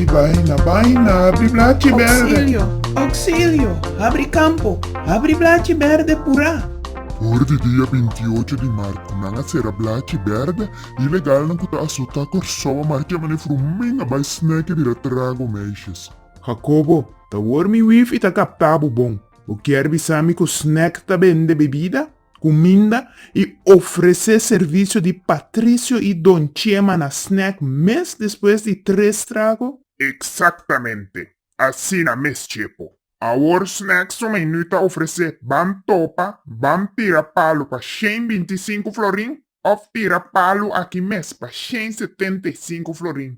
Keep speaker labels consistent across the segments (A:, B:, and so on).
A: Ai baina, baina, habri blachi berde. Oxilio, oxilio, habri campo, habri blachi berde pura. Ora di dia binti i ocho di mar cu nan a cera blachi berde, ilegalnan cu ta asota Corsou a marcha manera frumen a bai sneke bira trago meisjes. Jacobo, ta wormi wifi ta capta bo bon. Bo kier bisa mi cu sneke ta bende bebida? kuminda i ofresé servisio di Patricio i Don Chema na snèk mes despues di tres trago? Eksaktamente asina mes Chepo. Awor snèk so mei nu ta ofresé Bam Topa, Bam Tira Palu pa shen binti i sinku florin òf Tira Palu aki mes pa shen setenta i sinku florin.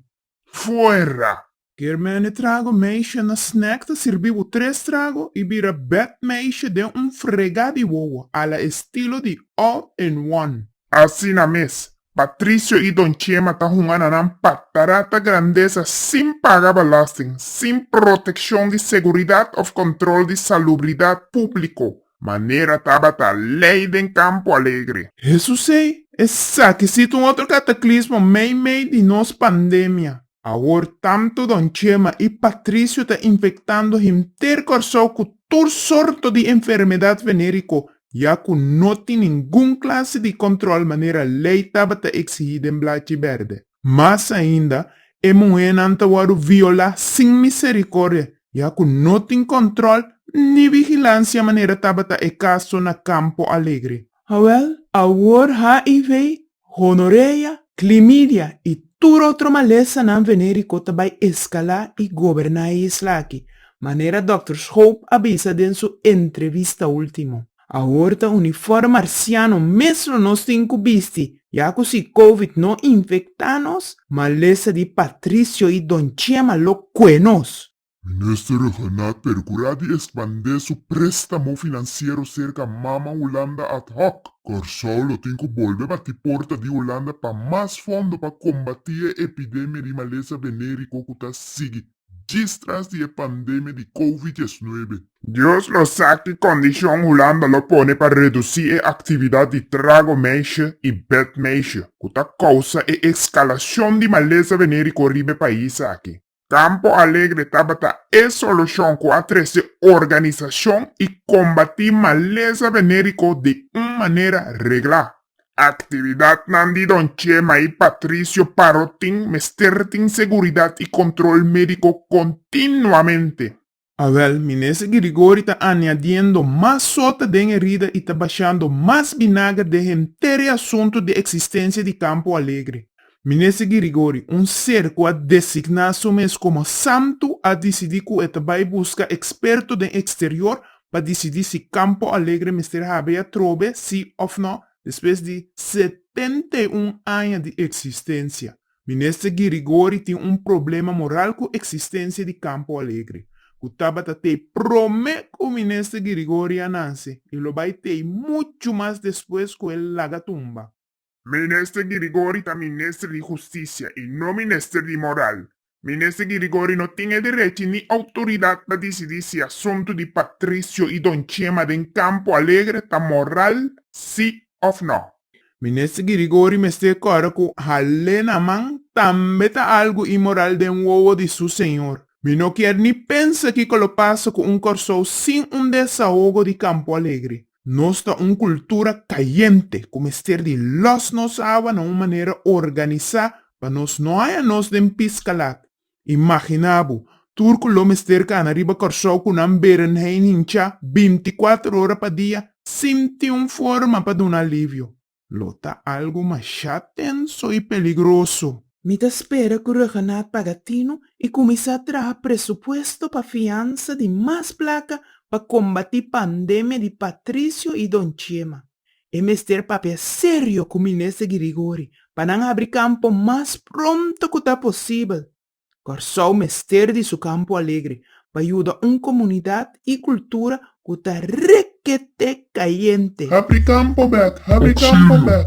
A: fuera. Kermene trago meisje na snack ta sirbi bo tres trago y bira bed meisje den un frega di wowo a la estilo di All in One. Asina mes, Patricio y Don Chema ta hunga na nan patarata grandesa sin paga belasting, sin proteccion di seguridad of control di salubridad publico. Manera tabata lei den Campo Alegre. Jesus ei, esaki si ta un otro cataclismo meimei di nos pandemia. Awor tanto Don Chema y Patricio ta infectando henter Corsou cu tur sorto di enfermedad venerico ya cu no tin ningun clase di control manera lei tabata exigi den Blachi Berde. Mas ainda, e muhénan ta wòrdu violá sin miserikòrdia, ya ku no tin kòntròl ni vigilansia manera tabata e kaso na Campo Alegre. Awèl, awor HIV, gonorea, klimidia i tur otro malesanan venériko ta bai eskalá i goberná e isla aki, manera Dòkter Schoop a bisa den su entrevista último. Awor ta uniform marciano mes lo nos tin cu bisti, ya cu si covid no infecta nos, malesa di Patricio y Don Chema lo cue nos. Minister Rhonald per cura di expande su prestamo financiero cerca Mama Hulanda ad hoc, Corsou lo tin cu bolbe bati porta di Hulanda pa mas fondo pa combati e epidemia di malesa venerico cu ta sigui. djis tras di e pandemia di Covid diesnuebe. Dios lo sa ki kondishon Hulanda lo pone pa redusí e aktividat di trago meisje i bed meisje ku ta kousa e eskalashon di malesa venériko riba e pais aki. Campo Alegre tabata e solushon ku a trese organisashon i kombatí malesa venériko di un manera reglá. Aktividatnan di Don Chema i Patricio Parrotin mester tin seguridat i kontrol médiko kontinuamente. Awèl, Minister Girigori ta añadiendo mas sota den herida i ta bashando mas binager den henter e asuntu di eksistensia di Campo Alegre. Minister Girigori, un ser ku a designá su mes komo santu, a disidí ku e ta bai buska eksperto den eksterior pa disidí si Campo Alegre mester habri atrobe sí òf nò despues di setenta i un aña di eksistensia. Minister Ghirigori tin un problema moral ku eksistensia di Campo Alegre, ku tabata t'ei promé ku Minister Ghirigori a nanse i lo bai t'ei muchu mas despues ku el laga tumba. Minister di Rigori ta minister di hustisia y no minister di moral. Minister di Rigori no tin e derechi ni autoridad pa dicidi si asunto di Patricio y Don Chema den Campo Alegre ta moral si of no. Minister di Rigori mester corda cu hale na man tambe ta algo inmoral den wowo di su señor. Mi no kier ni pensa kico lo pasa cu un Corsou sin un desahogo di Campo Alegre. Nos ta un kultura kayente ku mester di lòs nos awa na un manera organisá pa nos no haña nos den piskalat. Imaginá bo, tur ku lo mester kana riba Kòrsou ku nan berenhei hinchá binti kuater ora pa dia sin tin un forma pa duna alivio. Lo ta algu mashá tenso i peligroso. Mi ta spera ku Rhuggenaath paga tinu i kuminsá traha presupuesto pa fiansa di mas plaka pa kombatí pandemia di Patricio i Don Chema. E mester papia serio ku Minister Ghirigori pa nan abri kampo mas pronto ku ta posibel. Kòrsou mester di su Kampo Alegre pa yuda un komunidat i kultura ku ta rekete kayente. Habri kampo bèk, habri kampo bèk.